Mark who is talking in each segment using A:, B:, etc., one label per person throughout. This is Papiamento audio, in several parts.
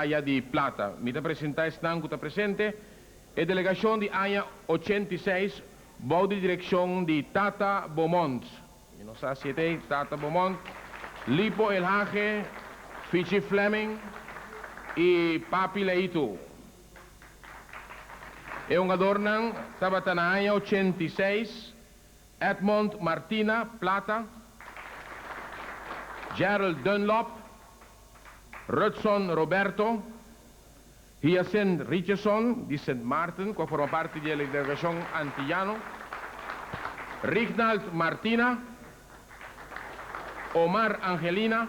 A: Aya di Plata. Mi ta presenta esnan cu ta presente, e delegacion di aña ochenta i seis bou di direccion di Tata Beaumont, mi no sa si e ta ei, Tata Beaumont, Lipo El Hage, Fichi Fleming y Papi Leitu. E hungadornan tabata na aña ochenta i seis Edmond Martina, plata, Gerald Dunlop, Rutson Roberto, Hyacint Richardson, di Sint Maarten, ku a forma parti di e delegashon Antiyano, Rignald Martina, Omar Angelina,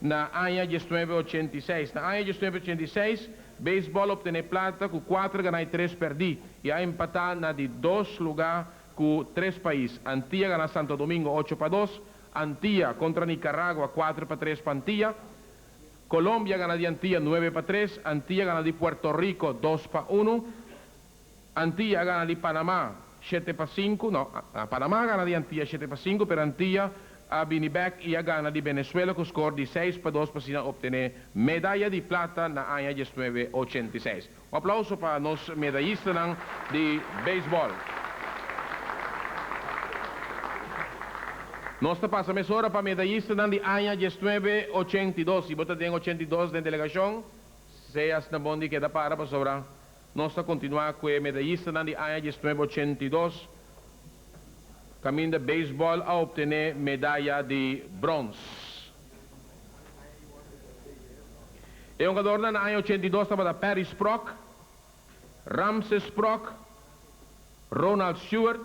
A: Na aña diesnuebe ochenta i seis Na aña diesnuebe ochenta i seis, Baseball optené plata ku kuater ganá i tres pèrdí i a empatá na di dos lugá ku tres pais. Antia ganá Santo Domingo ocho pa dos, Antia, kontra Nikaragua kuater pa tres pa Antia. Kolombia ganá di Antia nuebe pa tres, Antia ganá di Puerto Riko dos pa unu. Antia a gana di Panama shete pa sinku, no, Panama a gana di Antia shete pa sinku, pero Antia a bini bek i a gana di Benesuela ku skor di seis pa dos pa asina optené medaya di plata na aña diesnuebe ochenta i seis. Un aplauso pa nos medayistanan di beisbòl. Nos ta pasa mesora pa medayistanan di aña diesnuebe ochenta i dos. Si bo ta den ochenta i dos den delegashon, sea asina bon di keda para pasobra Nos ta kontinuá ku e medayistanan di aña diesnuebe ochenta i dos kaminda beisbòl a optené medaya di brons. E hongadornan na aña ochenta i dos tabata Perry Sprock, Ramses Sprock, Ronald Stewart,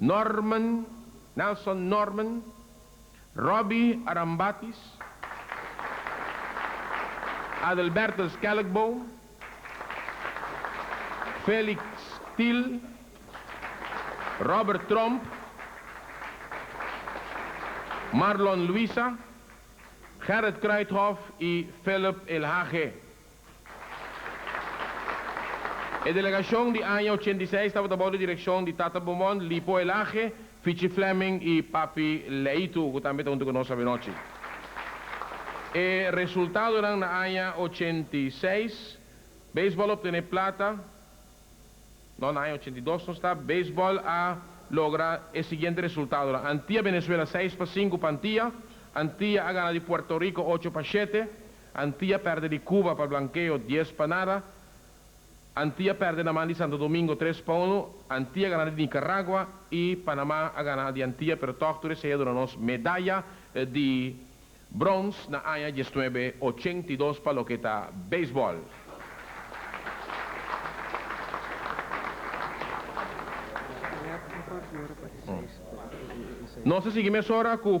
A: Norman, Nelson Norman, Robbie Arambatis, Adelberto Schelkboom, Felix Thill, Robert Tromp, Marlon Luisa, Gerrit Kruithof y Philip Elhage. E delegashon di aña ochenta i seis tabata bou di direkshon di Tata Beaumont, Lipo Elage, Fichi Fleming i Papi Leitu, ku tambe ta huntu ku nos avenochi. E resultadonan na aña ochenta i seis, Beisbòl a optené plata, no, na aña ochenta i dos nos ta, Beisbòl a logra e siguiente resultadonan, Antia-Benezuela seis pa sinku pa Antia, Antia a gana di Puerto Riko ocho pa shete, Antia perde di Cuba pa blankeo dies pa nada, Antia perde na man di Santo Domingo tres pa unu, Antia gana di Nicaragua y Panama a gana di Antia pero tog tur esey a duna nos medaya di brons na aña diesnuebe ochenta i dos pa loke ta baseball. Nos a sigui mesora cu.